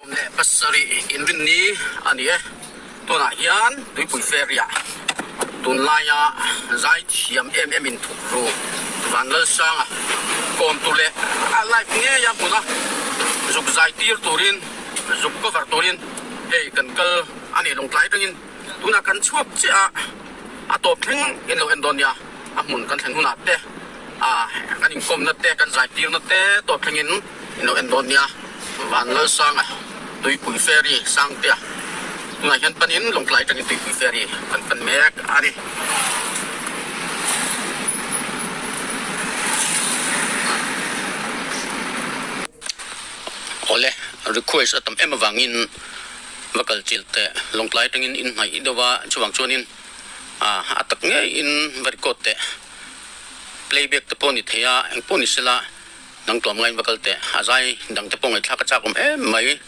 Awm leh pasarih inrin ni a ni e. Tunah hian Tuipui Ferry-a tunlaia zai chi hriam em em inthuktu Van Lalsanga kawmtu leh a live ngeia hmuna zuk zai tir turin, zuk cover turin hei kan kal a ni lawng tlai tangin. Tunah kan chhuak chiah a, a tawp thleng in lo en dawn nia, a hmun kan thlen hunah te, aah, kan inkawmna te, kan zaitirna te tawp thleng in in lo en dawn nia. Van Lalsanga Tuipui Ferry Sangtea tunah hian pan in Lawngtlai tangin Tuipui Ferry kan pan mek a ni. Awle, request a tam em avangin. va kal chilh teh, lawngtlai atangin in hnaih deuh a, chuvang chuanin ah a tak ngeiin va record teh, play back te pawh ni thei a, eng pawh ni sela nang tuam ngaiin va kal teh, a zai dang te pawh ngaihthlak a chak awm em mai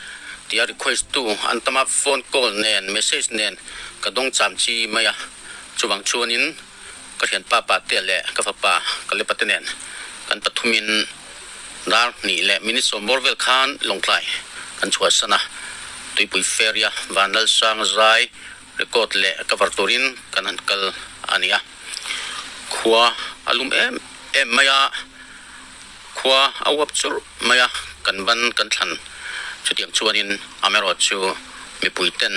tia request tu an tam a, phone call nen, message nen ka dawng cham chi mai a, chuvang chuanin. Ka thianpa pate leh ka fapa Kalipate nen kan pathumin dar hnih leh minute sawmbawr vel khan Lawngtlai kan chhuah san a. Tuipui Ferry-a van lal sang zai record leh cover turin kan han kal a nia. Khua a lum em em mai a. Khua a uap churh mai a, kan ban kan thlan. Chutiang chuanin Amerod chu mipuiten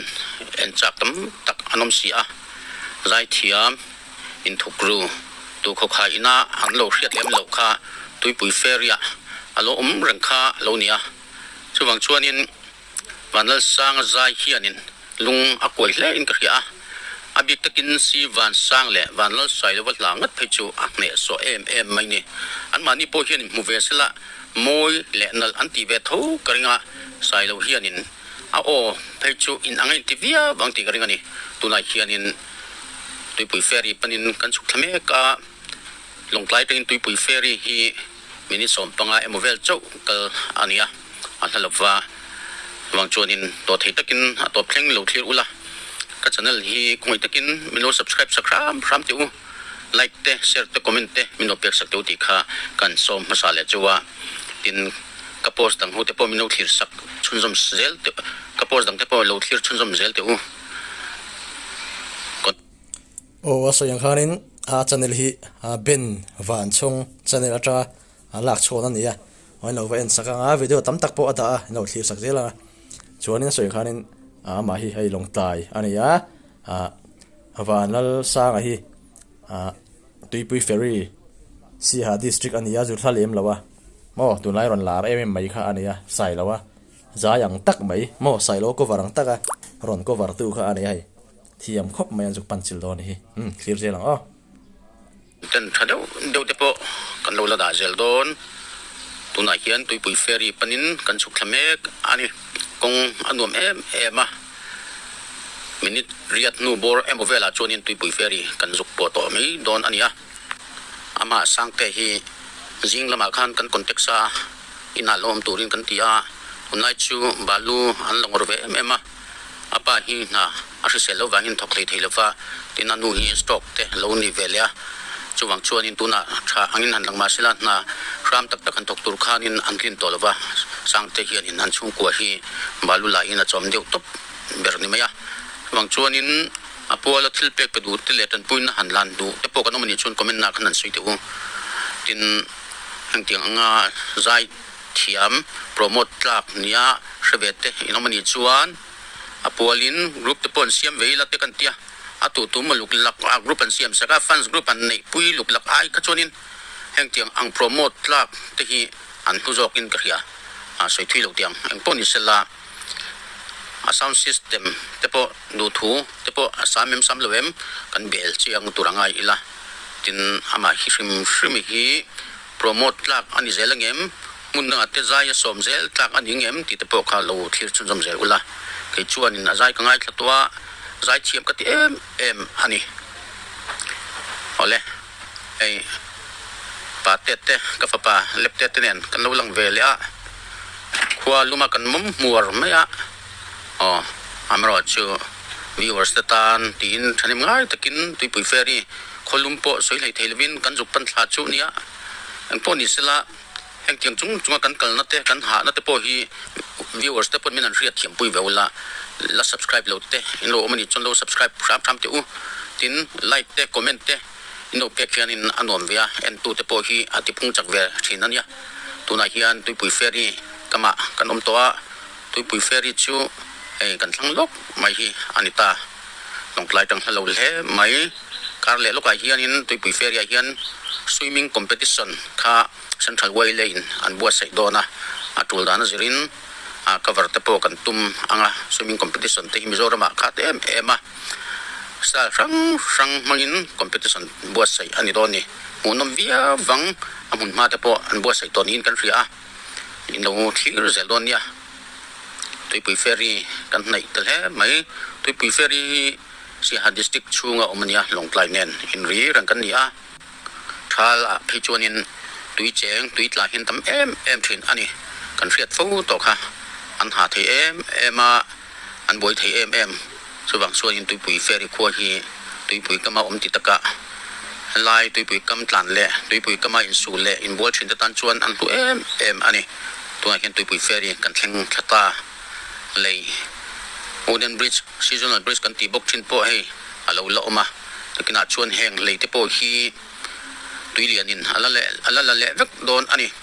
en chak tam tak an awm si a, zaithiam, inthukru, tuhkhawkhai ina an lo hriat lem loh kha tuipui ferry-ah a lo awm reng kha a lo ni a. Chuvang chuanin Van Lalsanga zai hianin lung a kuai hlein ka hria a, a bik takin si Van Sang leh Van Lalsai lova hla ngat phei chu a hneh suah em em mai ni. Anmahni pawh hian in hmu ve sela mawi leh nalh an ti ve tho ka ring a, sai lo hianin a aw phei chu in anga inti viau ang tih ka ring a ni. Tunah hianin tuipui ferry panin kan chhuk thla mek a. Lawngtlai tangin tuipui ferry hi min insawm panga emaw vel chauh kal a nia, a hla lova vang chuanin tawh thei takin a tawp thleng lo thlir ula, ka channel hi khawngei takin min lo subscribe sak hram hram teh u, like te share te comment te min lo pek sak teh u tih kha kan sawm hmasa leh chu a, tin ka post dang ho te pawh min lo thlir sak chhunzawm zel teh ka post dang te pawh lo thlir chhunzawm zel teh u. Aw a sawi ang khanin a channel hi Ben Vanchhung channel ata a lak chhuan a nia aw in lo va en sak ang a video tam tak pawh a dah a in lo thlir sak zel ang a chuan in sawi ang khanin a mah hi hei Lawngtlai a nia a van lal sanga hi Tuipui Ferry Siaha District a nia Zulhla lem lo a maw tun lai rawn lar em em mai kha a nia sai lo a zai ang tak mai maw sai lo cover ang tak a rawn cover tu kha a nia hei Thiam khawp mai an zuk panchil dawn a ni hi. Umm clear zel ang aw. Ten tha deuh deuh te pawh kan lo la dah zel dawn. Tunah hian tuipui ferry panin kan chhuk thla mek a ni. Kawng a nuam em em a. Minute riat hnu bawr emaw velah chuanin tuipui ferry kan zuk pawh tawh mai dawn a nia. Ama Sangte hi zing lamah khan kan contact sa a, inah lo awm turin kan ti a. Tunlai chu balu an la ngawr ve em em a. A pa hi hna a hrisel loh vangin thawk thei thei lova, tin a nu hi stroke te lo ni ve leh a. Chuvang chuanin tunah tha angin han lang mahsela hna hram tak tak han thawk tur khanin an tlin tawh lova, Sangte hianin an chhungkua hi balu laiin a chawm deuh tawp ber ni mai a. Chuvang chuanin a puala thil pek pe duh te leh tanpuina han lan duh te pawh kan awm a nih chuan comment-ah khan han sawi teh u, tin heng tiang anga zai. thiam promote tlak nia hrevet te in awm a nih chuan a pual in group te pawh an siam ve ila te kan tia a tu tum a luk lak a group an siam sak a fans group an neih pui luk lak ai kha chuan in heng tiang ang promote tlak te hi an hnu zawk in ka hria a sawi thui lo tiang eng pawh ni sela a sound system te pawh duh thu te pawh a sam em sam lo em kan bel chiang tur a ngai ila tin amah hi hrim hrim hi. Promote tlak a ni zel ang em? Hmuna te zai a sawm zel tlak a ning em? tihte pawh kha lo thlir chhunzawm zel ula, kei chuanin a zai ka ngaithla tawh a, zai thiam ka ti em em a ni. Awle, hei Pa Tet te ka fapa Lep Tet te nen kan lo lang ve leh a, khua luma kan mawm hmuar mai a. Aw, amaherawhchu chu viewers te tan tiin thahnem ngai takin Tuipui Ferry khawlum pawh sawi hleithei lovin kan zuk pan thla chu nia eng pawh ni sela hengtiang chung chunga kan kalna te kan hahna te pawh hi viewers te pawn min an hriat thiam pui ve ula la subscribe lo te in lo awm anih chuan lo subscribe hram hram teh u tin like te comment te in lo pek hianin a nuam ve a en tute pawh hi a tiphung chak ve thin ania tunah hian Tuipui Ferry kamah kan awm tawh a. Tuipui Ferry chu hei kan thlang lawk mai hi a ni ta, lawngtlai tang hla lo hle mai. Kar leh lawkah hianin Tuipui Ferry-ah hian Swimming Competition kha Central Way leiin an buatsaih dawn a, a tul dan a zirin cover te pawh kan tum ang a, Swimming Competition te hi Mizoramah khat em em a style hrang hrang hmangin competition buatsaih a ni dawn ni, hmuhnawm viau vang a hmunhma te pawh an buatsaih tawh niin kan hria a. Nih lo thlir zel dawn nia, Tuipui Ferry kan hnaih tel hle mai. Tuipui Ferry hi Siaha District chhunga awm a nia, Lawngtlai nen in rir ang kan ni a. Thal ah phei chuanin tui cheng, tui tla hian tam em em thin a ni. Kan hriat fo tawk kha an ha thei em em a. An buai thei em em. Chuvang sualin tuipui Ferry khua hi tuipui kama awm ti takah helai tuipui kam tlan leh tuipui kama insul leh inbual thin te tan chuan an hlu em em a ni. Tunah hian tuipui Ferry kan thleng thla ta. Lei Wooden Bridge, Seasonal Bridge kan tih bawk thin pawh hei a lo la awm a. Takinah chuan heng lei te pawh hi tui lianin a la la leh vek dawn a ni.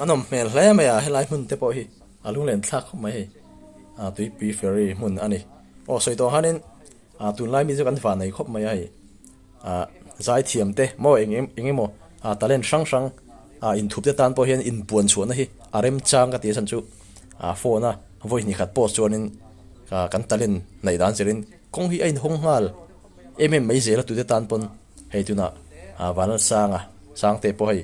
a nawm hmel hle mai a helai hmun te pawh hi a lung len thlak khawp mai hei a tuipui ferry hmun a ni aw sawi tawh han in a tunlai mi chu kan va nei khawp mai a hei. Ahh zai thiam te maw eng em eng emaw ahh talent hrang hrang ahh in thup te tan pawh hian in puan chhuahna hi a rem chang ka ti a chhan chu ahh phone a voice ni khat post chuan in ahh kan talent hnaih dan zer in kawng hi a in hawng nghal em em mai zel a tute tan pawn hei tunah ahh Vanal Sang a sang te pawh hei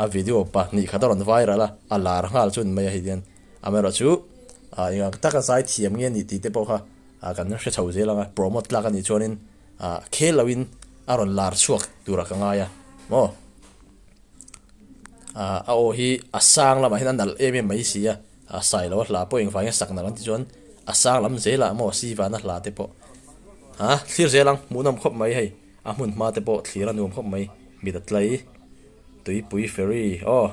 a video pahnih khat a rawn viral a a lar nghal chun mai a hei hian am erawh chu ahh engah taka zai thiam nge nih tih te pawh kha ahh kan hre chho zel ang a promote tlak a nih chuan in. a khel lo in a rawn lar chhuak tura ka ngai a maw a a aw hi a sang lamah hian a nalh em em mai si a a sai lo a hla pawh engvang in sak nalh an ti chuan a sang lam zela maw sivana hla te pawh a thlir zel ang hmuh nawm khawp mai hei a hmun hma te pawh thlir a nuam khawp mai mit a tlai tuipui ferry aw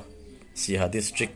siaha district.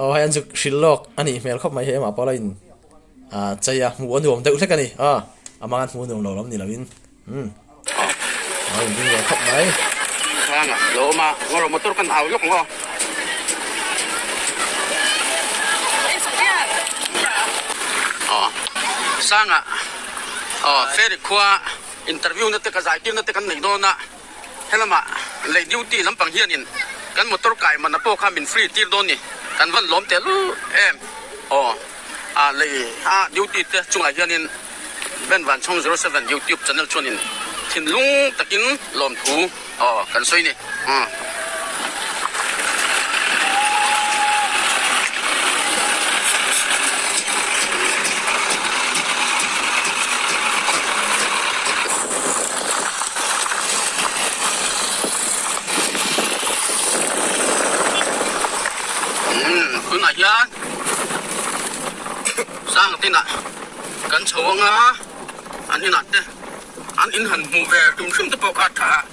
Aw hei an zuk hrilh lawk a nih hmel khawp mai hei amah pawl a in chei a, hmuh a nuam deuh hlek a ni, aw a hmang an hmu nuam lo lawm ni lo in umm a rawn ding ve khawp mai. Khang ah lo awm a, ngaw rawh motor kan au lawk ang aw. Aw sang ah aw Ferry khua interview na te ka zai tir na te kan nei dawn a. Helama lei duty lampang hianin kan motor kai manna pawh kha min free tir dawn ni, kan van lawm teh luh em aw a lei a duty te chungah hianin Ben Vanchawng zero seven YouTube channel chuanin thinlung takin lawmthu aw kan sawi ni. tunah hian sang tinah kan chho anga an inah te an inhan hmuh ve tum hrim te pawh ka tha a.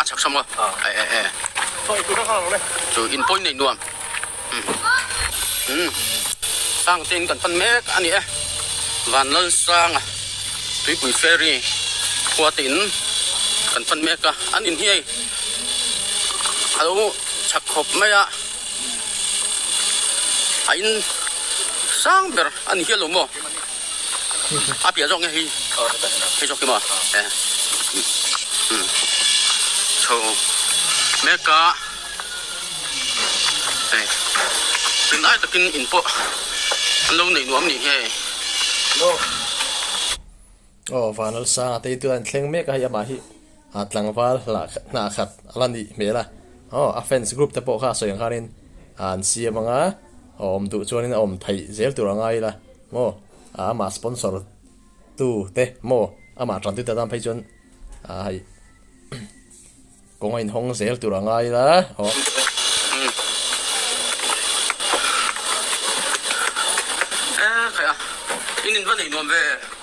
a chak thram a eh eh eh chu in pawi nei nuam umm sang ten kan pan mek a ni e van lal sang a tuipui ferry khuat in kan pan mek a an in hi hei alo chak khawp mai a a in sang ber a ni hial lo maw a piah zawk nge hi hei zawk hi maw eh umm chho mek a hei rin ai takin in pawh an lo nei nuam ni nghe aw vanal sanga te tu hian thleng mek a hei amah hi a tlangval hlah hnah khat a la nih hmel a aw a fans group te pawh kha a sawi ang khanin an siam ang a. A awm duh chuanin a awm theih zel tur a ngai ila maw? A amah sponsor tu te maw? Amah ṭantu te tan phei chuan a hei kawng a inhawng zel tur a ngai ila maw? Eee, khaia, in in va neih nuam ve e.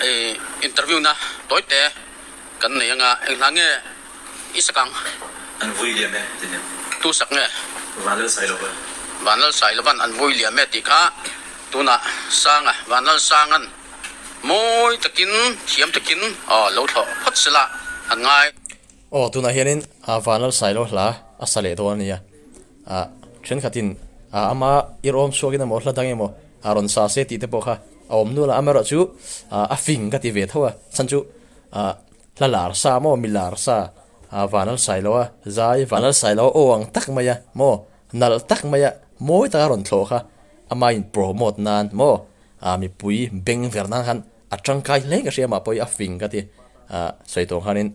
Hei interview na tawi te kan nei anga eng hla nge i sak ang? An vui liam e ti hnem. Tu sak nge? Vanlal Sai Lovan. Vanlal Sai Lovan an vui liam e tih kha tunah Sanga Vanlal Sangan mawi takin thiam takin aw lo thlawh phawt sela han ngai. Aw tunah hianin a Vanlal Sai Lo hla a sa leh dawn a nia. A thenkhatin a ama i rawm chhuakin emaw hla dang emaw A rawn sa se tih te pawh kha a awm nual a, amaherawh chu a fing ka ti ve tho a, chhan chu hla lar sa maw mi lar sa a van al sai lo a, zai van al sai lo a aw ang tak mai a maw nalh tak mai a mawi taka rawn thlawh kha ama in promote nan maw a mipui beng ver nan khan a tangkai hle ka hria mah pawh hi a fing ka ti a sawi tawng khanin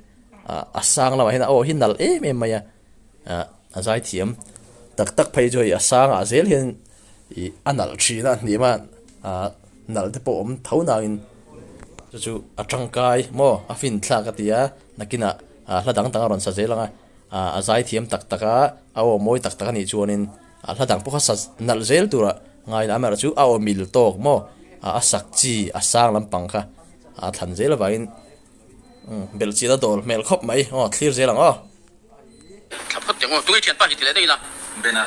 a sang lamah hian a aw hi nalh em em mai a. A zaithiam tak tak phei chu hei a sangah zel hian ih a nalh thin a, hnih hman ah nalh te pawh awm tho nang in chu chu a tangkai maw a fin thlak a tia nakinah a hla dang dang a rawn sa zel ang a, a zaithiam tak tak a a aw mawi tak tak a nih chuanin a hla dang pawh kha sa nalh zel tura ngai lam erawh chu a awmil tawk maw a sak chi a sang lampang kha a thlan zel avangin. Belhchîn a dâwl hmêl khawp mai. Aw thlîr zêl ang aw. Thlap phawt teng aw. Tunge ṭhian pa hi ti leh daih ila. Ben a.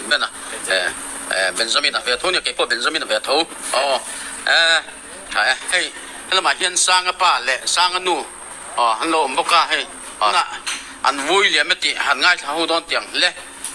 Ben a. Eeh. Benjamin a ve tho nia. Kei pawh Benjamin a ve tho. Aw. Eeh. Aw eeh. Hei. He lamah hian Sanga pa leh Sanga nu aw an lo awm bawk a. Hei. Tunah an vui liam e tih han ngaithla ho dawn tiang hle.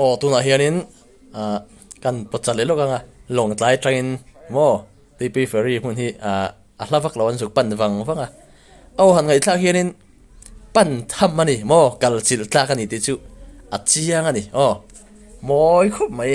aw tunah hianin ah kan pawchah leh lawk anga lawng tlai atangin maw tuipi fairy hmun hi ah a hla vaklo an zuk pan vang vang a aw han ngaihthlak hianin pan tham a ni maw kalchilh tlak a ni tih chu a chiang a ni aw mawi khawp mai.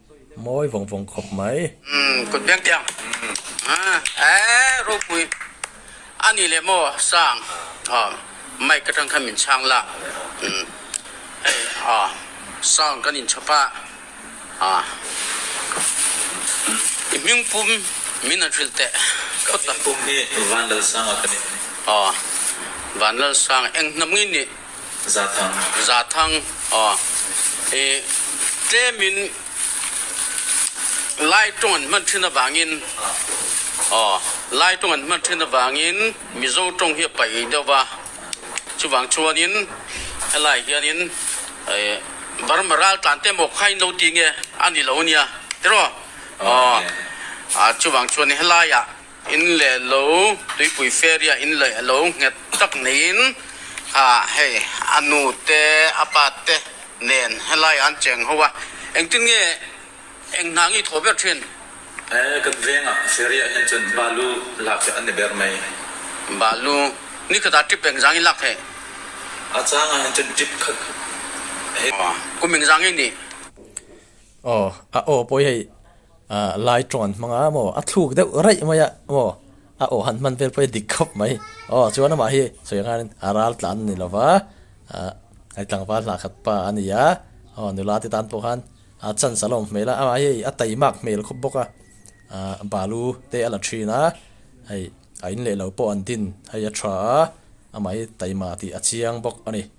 Mawi vawng vawng khawp mai. Umm kut biak diang umm eeh Ropui a ni leh maw sang aw mic atang khan min chhang la umm hei aw sound kan in chhawp a aw i hming pum min an hrilh teh phawt a. Ka hming pum hi Vanlalsanga ka ni. Aw Vanlalsanga eng hna mai nih. Zathang. Zathang aw i tlemin Lai tawng an hman thin avangin aw Lai tawng an hman thin avangin Mizo tawng hi a paih ngei deuh va, chuvang chuanin helai hianin Burma ral tlan te maw khain lo ti nge a ni lo nia tiraw aw a chuvang chuan helaia In leh lo tuipui feria in leh lo nghet tak neiin ah hei a nu te a pa te nen helaiah an cheng ho a, engtin nge eng hna ngi thaw ber thin? Eh kan vengah feria hian chuan balu lak hi a ni ber mai. Balu, ni kha ta tip engzang i lak theih? A changah hian chuan tip kha hei. Aw, kum engzang i nih? Aw, a aw pawh i hei. A lai tawn hmang a maw a thluk deuh raih mai a maw a aw han hman vel pawh hi a dik khawp mai aw chuan amah hi sawi nghal in a ral tlan a ni lo va a i tlangval hlah khat pa a ni a aw nula te tan pawh khan a chansa lawm hmel a amah hi a tei mak hmel khawp bawk a aah balu te a la thin a hei a in leh lo pawh an din hei a tha a amah hi tei mah tih a chiang bawk a ni.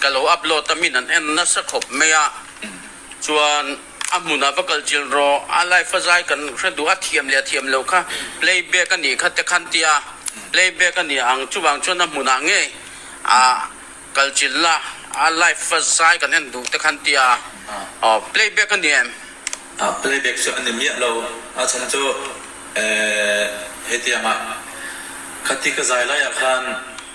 Ka lo upload a min an en nasa khawp mai a, chuan a hmunah va kal chilh rawh, a live a zai kan hre duh a thiam leh a thiam loh kha playback a nih kha te khan tia, playback a nih ang chuvang chuan a hmunah ngei a kal chilh la, a live a zai kan en duh te khan tia, aw playback a ni em? Ah playback chu a ni miah lo, a chhan chu eh hetianga kha ti ka zai laiah khan.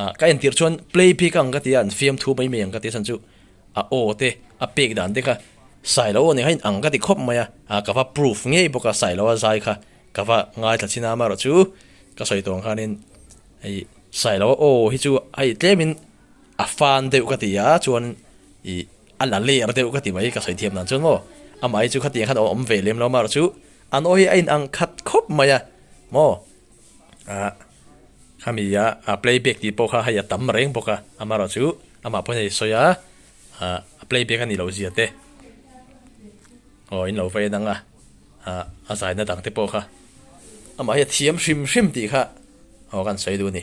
ah ka entir chuan play bik ang ka ti a an fiam thu mai mai ang ka ti a chhan chu a aw te a pek dan te kha sailo aw nih kha in ang ka ti khawp mai a ah ka va proof ngei bawk a sailo a zai kha ka va ngai thla chin a amarawh chu ka sawi tawng khan in hei sailo a aw hi chu hei tlem in a fan deuh ka ti a chuan i a la ler deuh ka ti mai ka sawi thiam dan chuan maw amah hi chu khatiang khan a awm ve lem lo amarawh chu an aw hi a in ang khat khawp mai a maw ah khami a ah play back tih pawh kha hei a tam reng bawk a amarawh chu amah pawn hei sawi a ah a play back a nih loh zia te aw in lo vei a dang a ah a zai na dang te pawh kha amah hi a thiam hrim hrim tih kha aw kan sawi a duh a ni.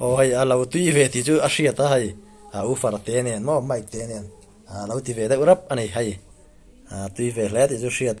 Aw hei a lo tui ve tih chu a hriat a hei, a ufer te nen maw mic te nen a lo ti ve deuh rap a ni hei, a tui ve hle tih chu a hriat.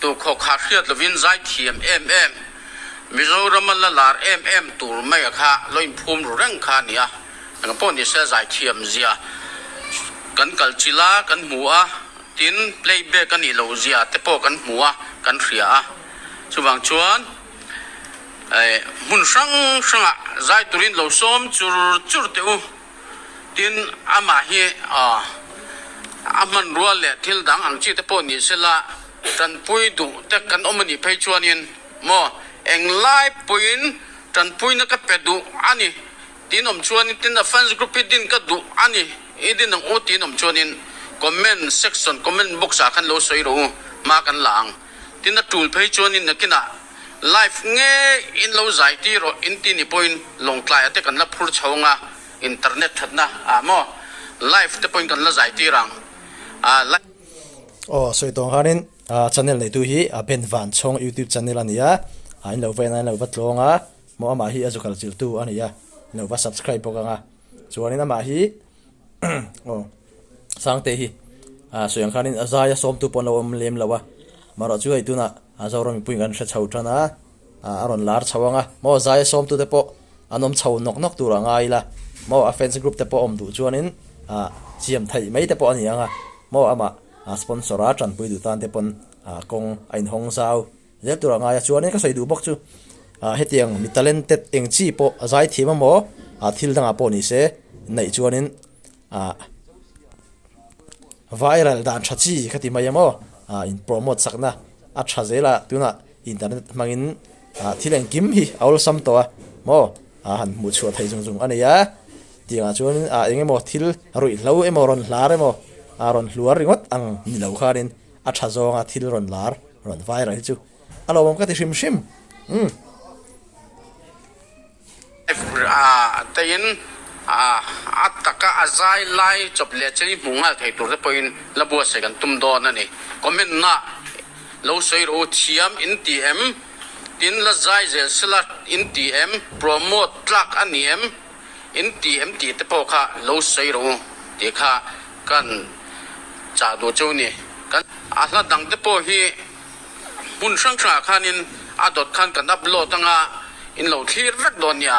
Tukhaw kha hriat lovin zaithiam em em, Mizorama la lar em em tur mai a kha lo inphum ru reng kha a ni a, engah pawh ni se zaithiam zia kan kalchil a, kan hmu a, tin playback a nih loh zia te pawh kan hmu a, kan hria a. Chuvang chuan hmun hrang hrangah zaiturin lo sawm chur chur teh u. Tin, amah hi a hmanrua leh thil dang ang chite pawh ni se la, tanpui duh te kan awm a nih phei chuanin maw eng lai pawhin tanpuina ka pe duh a ni tiin awm chuanin tin a fans group hi din ka duh a ni i din ang u tiin awm chuanin comment section, comment box ah khan lo sawi rawh u hma kan la ang. Tin a tul phei chuan in nakinah live ngeiin lo zai tir rawh in ti ni pawhin lawngtlai ate kan la phur chho ang a, internet thatna ah maw live te pawhin kan la zai tir ang a. Aw sawi tawng khanin channel neitu hi a Ben Vanchawng youtube channel a nia, in lo va en a in lo va tlawng a, maw amah hi a zu kalchilhtu a nia, in lo va subscribe bawk ang a, chuan in amah hi. Aw Sangte hi a sawi ang khanin a zaia sawmtu pawh an lo awm lem lo a, marawh chu hei tunah a Zoram mipuiin kan hre chho tan a, a rawn lar chho ang a, maw zaia sawmtu te pawh an awm chho nawk nawk tur a ngai ila, maw a fans group te pawh awm duh chuanin a siam theih mai te pawh a ni ang a, maw amah a sponsor a tanpui duh tan te pawn kawng a inhawng zau. Zirtirah ngaia chuanin ka sawi duh bawk chu, ah hetiang mi talented eng chi pawh a zai thiam a maw? Ah thil dangah pawh ni se, neih chuanin ah viral dan tha chi ka ti mai a maw? Ah in promote sakna a tha zela tunah internet hmangin ah thil engkim hi a awlsam tawh a maw? Ah han hmuh chhuah thei zung zung a nei a, tiangah chuanin ah engemaw thil ruih hlo emaw rawn hlar emaw ah rawn hluar ringawt ang ni lo khanin, A tha zawnga thil rawn lar, rawn vaira hi chu a lawmawm ka ti hrim hrim. Umm. Teiin a taka a zai lai chawp leh chei hmuh nghal thei tur te pawhin la buatsaih kan tum dawn a ni. Comment-na lo sawi rawh u, thiam in ti em? Tin la zai zel sela in ti em? Promote tlak a ni em? in ti em tih te pawh kha lo sawi ro u tih kha kan chah duh chu ni. Kan. A hla dang te pawh hi hmun hrang hrangah khanin a dawt khan kan upload anga in lo thlir vek dawn nia.